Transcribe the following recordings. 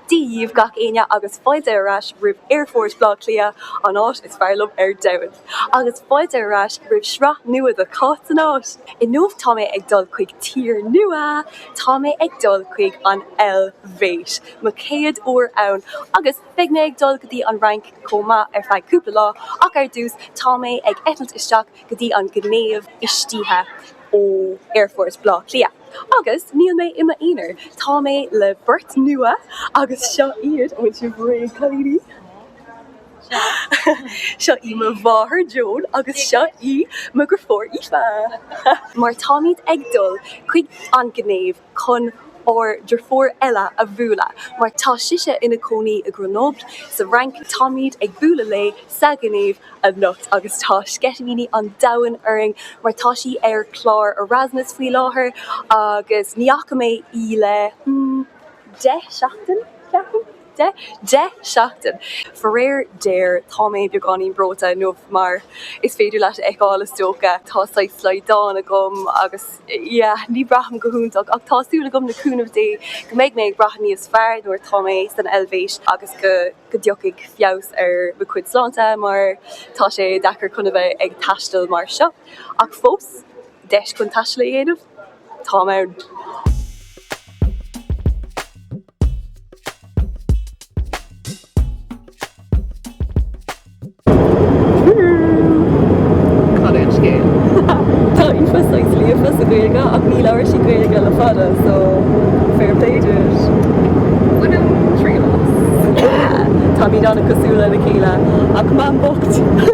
Dia-dhíobh gach éinne agus fáilte ar ais roimh Aerfort Bhleá Cliath, an áit is fearr liom ar domhan! Agus fáilte ar ais roimh sraith nua de Cáit san Áit! Inniu tá mé ag dul chuig tír nua! Tá mé ag dul chuig an Eilvéis, mo chéad uair ann agus. Beidh mé ag dul go dtí an Fhrainc chomh maith ar feadh cúpla lá ach ar dtús tá mé ag eitilt isteach go dtí an Ghinéiv istoíche ó aerfort Bhleá Cliath. Agus níl mé i m'aonar, tá mé le beirt nua agus seo iad, an bhfuil sibh réidh cailíní? seo í mo mháthair Joan agus seo í m'eagrafóir Aoife! Mar táimid ag dul chuig an Ghinéiv chun ár deirfiúr eile a bhualadh mar tá sise ina cónaí i Grenoble sa Fhrainc. Táimid ag bualadh léi sa Ghinéiv anocht agus tá sceitimíní an domhain orainn mar tá sí ar chlár Erasmus faoi láthair agus ní fhaca mé í le deich seachtain, ceapaim. Deich seachtain. Faraor géar tá mé beagáinín breoite inniu mar is féidir leat a fheiceáil is dócha, tá saghas slaghdán agam agus yeah ní bhraithim go hiontach ach tá súil agam le cúnamh Dé go mbeidh mé ag brath níos fearr nuair atá mé san Eilvéis agus go go dtiocfaidh feabhas ar mo cuid sláinte mar tá sé deacair chun a bheith ag taisteal mar seo ach fós deis chun taisteal a dhéanamh táim ann. Cad é an scéal? Tá Aoife saghas líofa sa Ghaeilge ach níor labhair sí Gaeilge le fada so fair play dude. Bainim triail as. Táimid an-cosúil lena chéile ach mam bocht.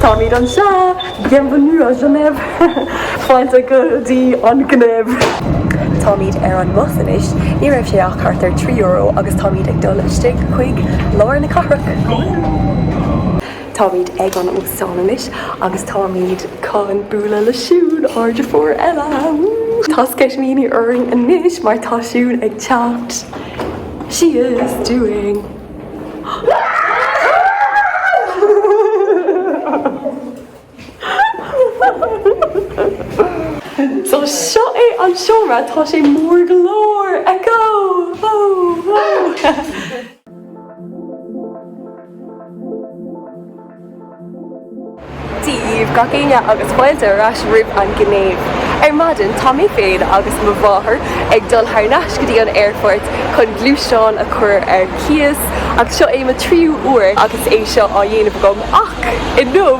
Táimid anseo! Bienvenue à Genève! Fáilte go dtí an Ghinéiv! Táimid ar an mbus anois, ní raibh sé ach thart ar trí euro agus táimid ag dul isteach chuig lár na cathrach. Táimid ag an óstán anois agus táimid chun bualadh le Siún, ár deirfiúr eile! Woo! Tá sceitimíní orainn anois mar tá Siún ag teacht! She is doing! So seo é an seomra, tá sé mór go leor! Echo! Whoa! Whoa! Dia dhaoibh gach éinne agus fáilte ar ais roimh an Ghinéiv. Ar maidin tá mé féin agus mo mháthair ag dul thar n-ais go dtí an aerfort chun gluaisteán a chur ar cíos agus seo é mo tríú uair agus é seo á dhéanamh agam ach inniu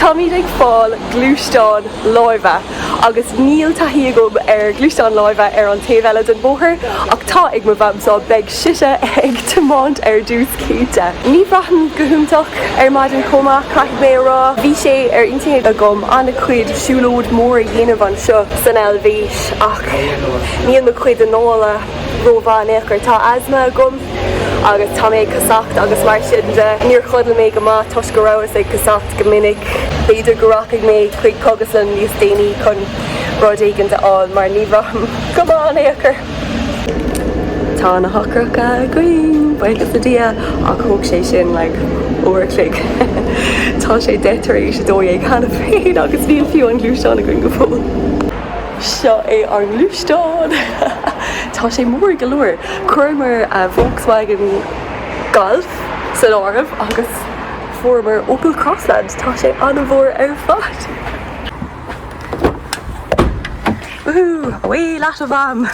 táimid ag fáil gluaisteán láimhe. agus níl taithí agam ar ghluaisteáin láimhe ar an taobh eile den bhóthar, ach tá ag mo Mham so beidh sise ag tiomáint ar dtús, cinnte. Ní bhraithim go hiontach ar maidin chomh maith, caithfidh mé a rá. Bhí sé ar intinn agam an-chuid siúlóidí móra a dhéanamh anseo san Eilvéis, ach níl mo chuid anála ró-mhaith anois, mar tá asma agam agus tá mé ag casacht agus mar sin de, níor chodail mé go maith toisc go rabhas ag casacht. Go minic, b'fhéidir go rachaidh mé chuig cógaslann níos déanaí chun rud éigin a fháil mar ní bhraithim go maith in aon chor. Tá na heochracha againn, buíochas le Dia, ach thóg sé sin like uair a chloig. Tá sé deich tar éis a dó dhéag cheana féin agus níl fiú an gluaisteán againn go fóill. Seo é ár ngluaisteán. Tá sé mór go leor. Chuireamar Volkswagen Golf in áirithe agus. Fuaireamar Opel Crossland, tá sé an-mhór ar fad! Woohoo! Away leat a mham!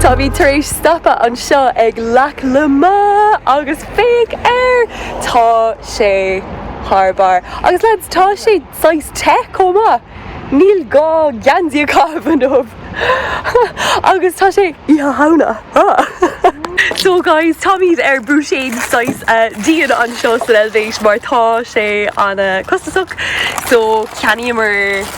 Táimid tar éis stopadh anseo ag Lac Léman agus Féach air tá sé thar barr. Agus leaids, tá sé saghas te chomh maith! Níl gá geansaí a chaitheamh inniu. Agus tá sé Oíche Shamhna! So guys, táimid ar búiséad saghas dian anseo san Eilvéis mar tá sé an-chostasach so cheannaíomar.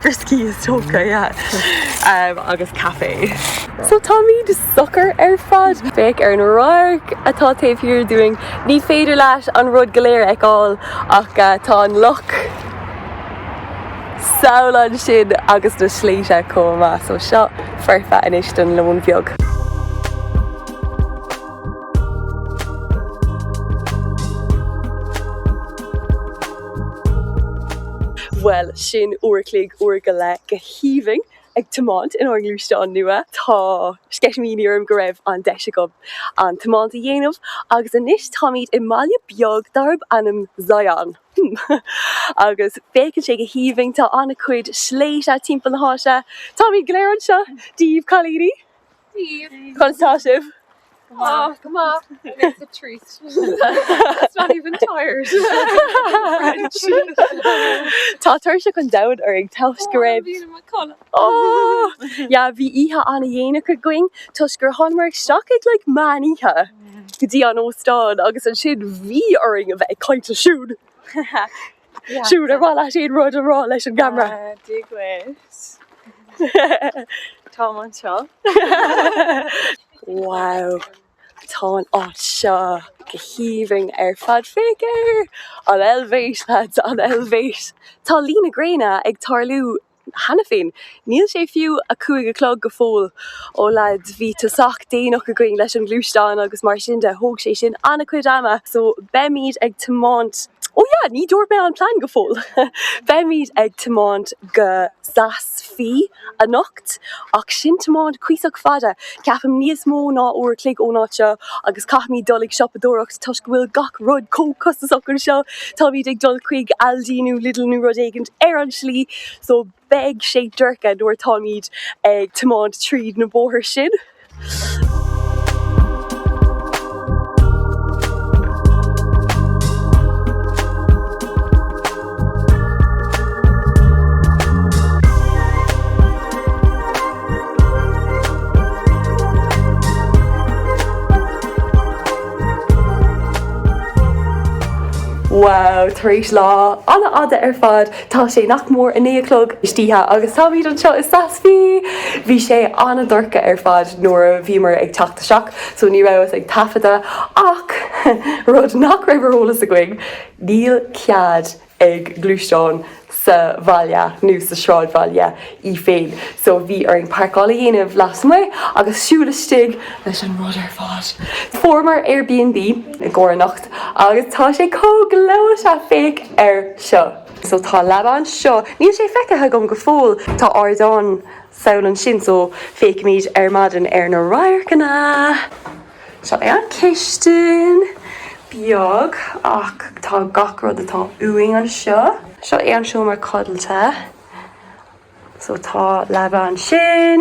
brioscaí is torthaí agus caife. So táimid socair ar fad. Féach ar an radharc atá taobh thiar dúinn. Ní féidir leat an rud go léir a fheiceáil ach tá an loch thall ansin agus na sléibhte chomh maith. So seo foirfe anois don lón beag. Bhuel, sin uair a chloig, uair go leith, go haoibhinn ag tiomáint inár ngluaisteán nua. Tá sceitimíní orm go raibh an deis agam an tiomáint a dhéanamh agus anois táimid i mbaile beag darb ainm Sion. Agus féachann sé go haoibhinn, tá an-chuid sléibhte timpeall na háite. Táimid go léir anseo Dia dhaoibh cailíní! Cuntasach. Maith go maith. It's a treat. It's not even tired. Tá tuirse chomh domhain orainn toisc go raibh. Bhí i mo chodladh. Oh! Yeah, bhí oíche ana-dhéanach againn toisc gur thánamar isteach ag like meán oíche go dtí an óstán agus ansin bhí orainn a bheith ag caint ansiúd. Siúd, ar mhaith leat aon rud a rá leis an gceamara? Dia dhuit. Táim anseo. Wow, tá an áit seo go haoibhinn ar fad. Féach ar an Eilvéis, lads, an Eilvéis! Tá luí na gréine ag tarlú cheana féin. Níl sé fiú a cúig a chlog go fóill. Ó leaids, bhí tosach déanach againn leis an ghluaisteán agus mar sin de, thóg sé sin an-chuid ama so beimid ag tiomáint Ó yeah, ní dúirt mé an plean go fóill! Beimid ag tiomáint go Saas Fee anocht ach sin tiomáint cuíosach fada. Ceapaim níos mó ná uair a chloig ón áit seo agus caithfimid dul ag siopadóireacht toisc go bhfuil gach rud chomh costasach anseo. Táimid ag dul chuig Aldi nó Lidl nó rud éigint ar an slí so beidh sé dorcha nuair atáimid ag tiomáint tríd na bóithre sin. Wow, tar éis lá an-fhada ar fad, tá sé nach mór a naoi a chlog istoíche agus táimid anseo i Saas Fee! Bhí sé an-dorcha ar fad nuair a bhíomar ag teacht isteach so ní rabhas ag taifeadadh ach rud nach raibh ar eolas againn, Níl cead ag gluaisteán sa bhaile nó sa sráidbhaile é féin so bhí orainn páirceáil a dhéanamh lasmuigh agus siúl istigh leis an rud ar fad. Fuaireamar Airbnb i gcomhair anocht agus tá sé chomh gleoite féach air seo. So tá leaba anseo. Níl sé feicthe agam go fóill, tá ardán amuigh ansin so féachfaimid ar maidin ar na radharcanna. Seo é an cistin, beag ach tá gach rud atá uainn anseo. Seo é an seomra codlata. So tá leaba ansin,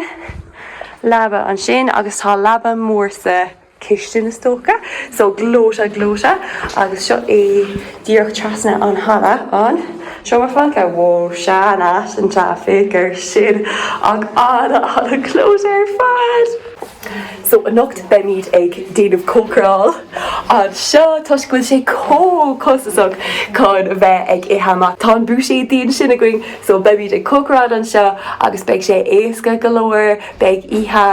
leaba ansin agus tá leaba mór sa cistin is dócha. So gleoite gleoite agus seo é díreach trasna an halla an seomra folctha. Wow, sean-nósach, féach air sin ach ana ana-ghleoite ar fad! So anocht beimid ag déanamh cócaráil anseo toisc go bhfuil sé comh costasach chun a bheith ag ithe amach. Tá an buiséad ansin againn so beimid ag cócaráil anseo agus beidh sé éasca go leor. Beidh oíche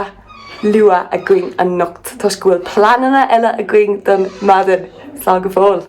luath againn anocht toisc go bhfuil pleananna eile againn don maidin. Slán go fóill.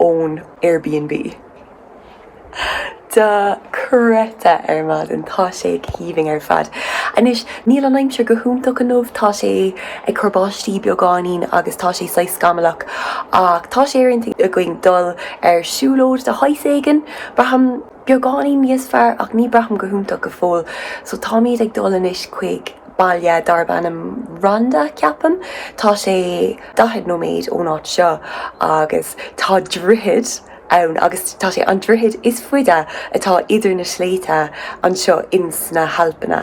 ón Airbnb. Dochreidte ar maidin! Tá sé aoibhinn ar fad. Anois, níl an aimsir go hiontach inniu, tá sé ag cur báistí beagáinín agus tá sé saghas scamallach ach tá sé ar intinn againn dul ar siúlóid de shaghas éigin, braithim. beagáinín níos fearr ach ní braithim go hiontach go fóill so táimid ag dul anois chuig baile darb ainm Rhonda ceapaim tá sé 40 nóiméad ón áit seo agus tá droichead ann agus tá sé an droichead is faide atá idir na sléibhte anseo ins na hAlpanna.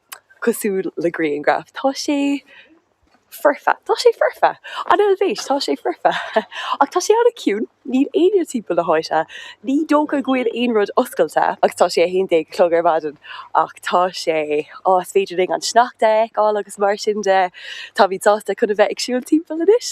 cosúil le grianghraf, tá sé foirfe, tá sé foirfe! An Eilvéis, tá sé foirfe! Ach tá sé an-chiúin, níl éinne timpeall na háite, ní dócha go bhfuil aon rud oscailte agus tá sé a haon déag a chlog ar maidin ach tá sé, á, is féidir linn an sneachta a fheiceáil agus mar sin de, táimid sásta chun a bheith ag siúl timpeall anois.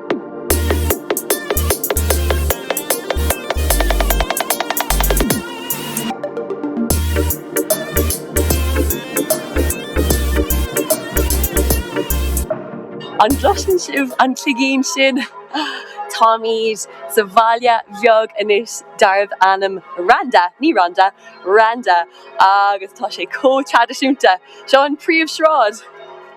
An gcloiseann sibh an cloigín sin? Táimid sa bhaile bheag anois darbh ainm Randa, ní Rhonda, Randa, agus tá sé chomh traidisiúnta. Seo an príomhshráid.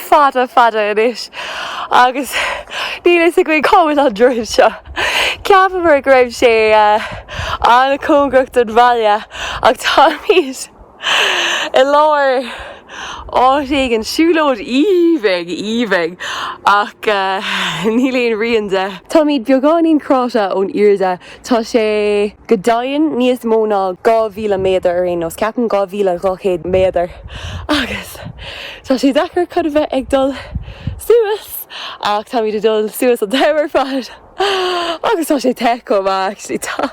fada fada anois agus níl fhios againn cá bhfuil an droichead seo. Cheapamar go raibh sé an-chóngarach don bhaile ach táimid i lár áit éigin, siúlóid aoibhinn aoibhinn ach níl aon rian de. Táimid beagáinín cráite ón airde Tá sé go deimhin níos mó ná 2,000 méadar ar aon nós, ceapaim 2,200 méadar, agus tá sé deacair chun a bheith ag dul suas ach táimid ag dul suas an t-am ar fad agus tá sé te chomh maith actually, tá,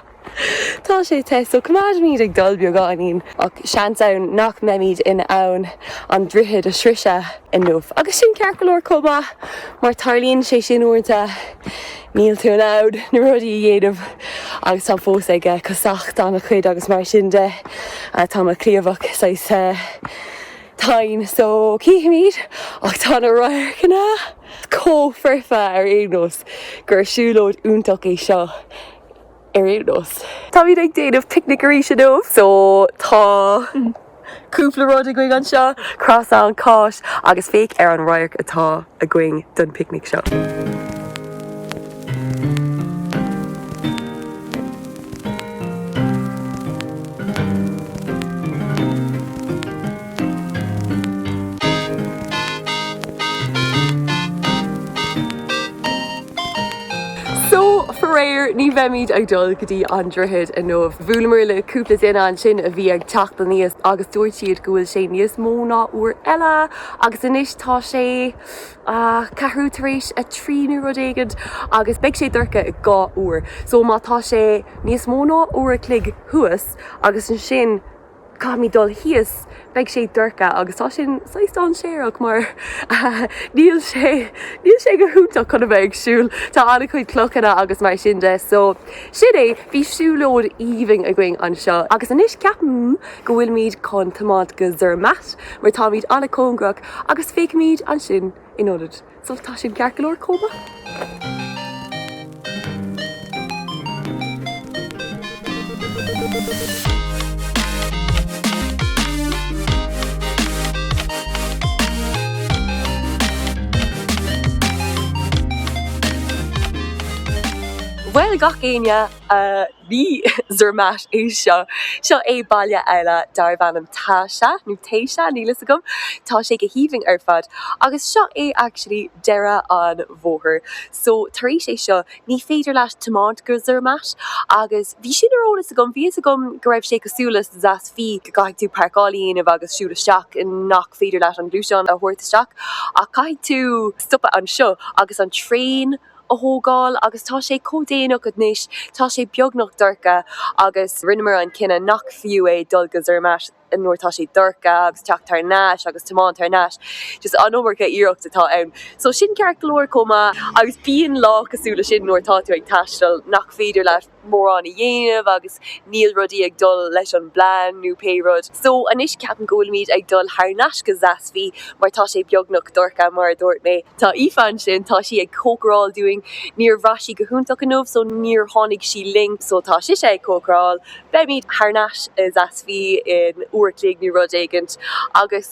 tá sé te so coimeádfaimid ag dul beagáinín ach seans ann nach mbeimid in ann an droichead a shroiseadh inniu agus sin ceart go leor chomh maith mar tarlaíonn sé sin uaireanta. Níl tú in ann na rudaí a dhéanamh agus táim fós ag casacht an-chuid agus mar sin de tá mo chliabhrach saghas tinn so cífimid ach tá na radharcanna chomh foirfe ar aon nós gur siúlóid iontach é seo. ar aon nós. Táimid ag déanamh picnic arís inniu so tá cúpla rud againn anseo, croissant, cáis agus féach ar an radharc atá againn don picnic seo. So, faraor, ní bheimid ag dul go dtí an droichead inniu. Bhuaileamar le cúpla duine ansin a bhí ag teacht aníos agus dúirt siad go bhfuil sé níos mó ná uair eile agus anois tá sé ceathrú tar éis a trí nó rud éigin agus beidh sé dorcha i dhá uair. So má tá sé níos mó ná uair a chloig thuas agus ansin, caithfimid dul thíos, beidh sé dorcha agus tá sin saghas dainséarach mar níl sé níl sé go hiontach chun a bheith ag siúl, tá an-chuid clocha agus mar sin de so sin é, bhí siúlóid aoibhinn againn anseo agus anois ceapaim go bhfuilimid chun tiomáint go Zermatt mar táimid an-cóngarach agus féachfaimid ansin in ionad So tá sin ceart go leor chomh maith. Bhuel, gach éinne! Ní Zermatt é seo. Seo é baile eile darb ainm Tascha, nó Täscha, níl a fhios agam, tá sé go haoibhinn ar fad, agus seo é actually deireadh an bhóthair. So tar éis é seo, ní féidir leat tiomáint go Zermatt, agus bhí sin ar eolas agam, bhí a fhios agam go raibh sé cosúil le Saas-Fee, go gcaithfidh tú parcáil a dhéanamh agus siúl isteach, nach féidir leat an gluaisteán a thabhairt isteach, ach caithfidh tú stopadh anseo agus an traein, a thógáil agus tá sé chomh déanach anois, tá sé beagnach dorcha agus rinneamar an cinneadh nach fiú é dul go Zermatt nuair atá sé dorcha agus teacht thar nais agus tiomáint thar nais, just an iomarca iarracht atá ann. So sin ceart go leor chomh maith agus bíonn lá cosúil le sin nuair atá tú ag taisteal nach féidir leat, mórán a dhéanamh agus níl rudaí ag dul leis an bplean nó pé rud. So anois ceapaim go bhfuilimid ag dul thar nais go Saas-Fee mar tá sé beagnach dorcha mar a dúirt mé. Tá Aoife ansin, tá sí ag cócaráil dúinn. Níor bhraith sí go hiontach inniu so níor tháinig sí linn so tá sise ag cócaráil. Beimid thar nais i Saas-Fee in uair a chloig nó rud éigint agus.